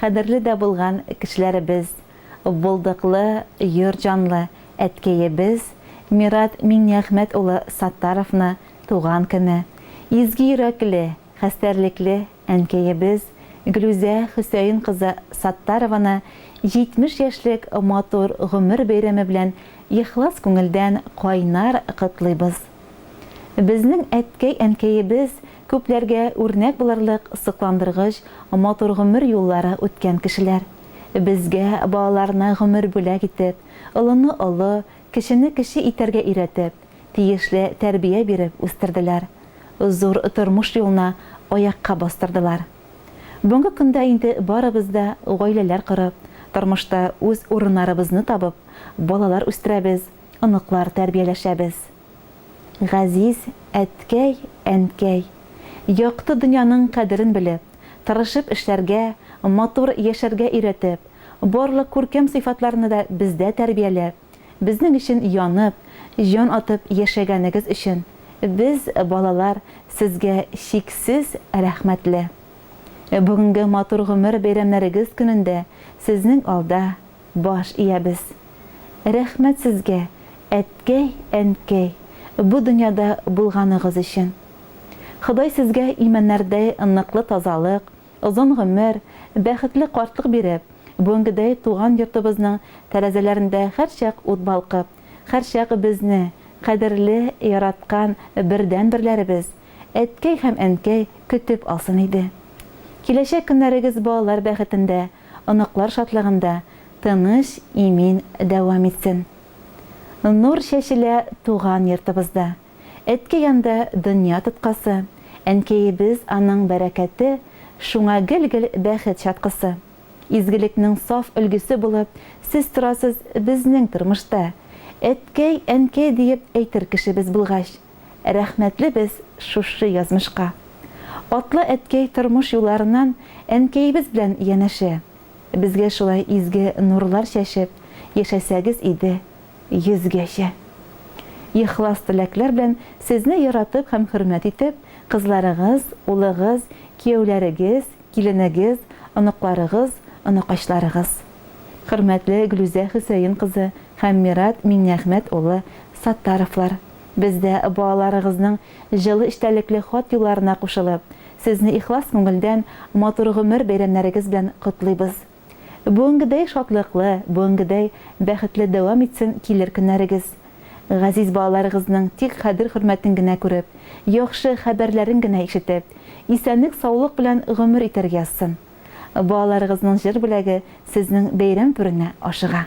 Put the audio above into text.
Кадерле дә булган кешеләребез, булдыклы, йорт җанлы әткәебез Мират Миңнеәхмәт улы Саттаровны туган көне, изге йөрәкле, хәстәрлекле әнкәебез Глүзә Хөсәен кызы Саттарованы 70 яшьлек матур гомер бәйрәме белән ихлас күңелдән кайнар котлыйбыз. Безнең әткәй-әнкәебез күпләргә үрнәк булырлык сокландыргыч матур гомер юллары үткән кешеләр. Безгә балаларына гомер бүләк итеп, олыны олы, кечене кече итәргә өйрәтеп, тиешле тәрбия биреп үстерделәр, зур тормыш юлына аякка бастырдылар. Бүгенге көндә инде барыбыз да гаиләләр корып, тормышта үз урыннарыбызны табып, балалар үстерәбез, оныклар тәрбияләшәбез. Газиз әткәй, әнкәй, якты дөньяның кадерен белеп, тырышып эшләргә, матур яшәргә өйрәтеп, барлык күркәм сыйфатларны да бездә тәрбияләп, безнең өчен янып, җан атып яшәгәнегез өчен без, балалар, сезгә чиксез рәхмәтле. Бүгенге матур гомер бәйрәмнәрегез көнендә сезнең алда баш иябез. Рәхмәт сезгә, әткәй, әнкәй, бу дөньяда булганыгыз өчен. Ходай сезгә имәннәрдәй ныклы тазалык, озын гомер, бәхетле картлык биреп, бүгенгедәй туган йортыбызның тәрәзәләрендә һәрчак ут балкып, һәрчак безне, кадерле, яраткан бердәнберләребез, әткәй һәм әнкәй, көтеп алсын иде. Киләчәк көннәрегез балалар бәхетендә, оныклар шатлыгында тыныч, имин дәвам итсен. Нур чәчелә туган йортыбызда. Әткәй анда дөнья тоткасы, әнкәебез аның бәрәкәте, шуңа гел-гел бәхет чаткысы. Изгелекнең саф өлгесе булып сез торасыз безнең тормышта. Әткәй, әнкәй диеп әйтер кешебез булгач. Рәхмәтле без шушы язмышка. Атлы әткәй тормыш юлларыннан әнкәебез белән янәшә. Безгә шулай изге нурлар чәчеп яшәсәгез иде йөзгәчә. Ихлас теләкләр белән сезне яратып һәм хөрмәт итеп, кызларыгыз, улыгыз, кияүләрегез, киленегез, оныкларыгыз, оныкачларыгыз. Хөрмәтле Гөлүзә Хөсәен кызы һәм Мират Миңнеәхмәт улы Саттаровлар. Без дә, балаларыгызның җылы эчтәлекле хат юлларына кушылып, сезне ихлас күңелдән матур гомер бәйрәмнәрегез белән котлыйбыз. Бүгенгедәй шатлыклы, бүгенгедәй бәхетле дәвам итсен килер көннәрегез. Газиз балаларыгызның тик кадер-хөрмәтен генә күреп, яхшы хәбәрләрен генә ишетеп, исәнлек-саулык белән гомер итәр язсын. Балаларыгызның җыр бүләге сезнең бәйрәм пүренә ашыга.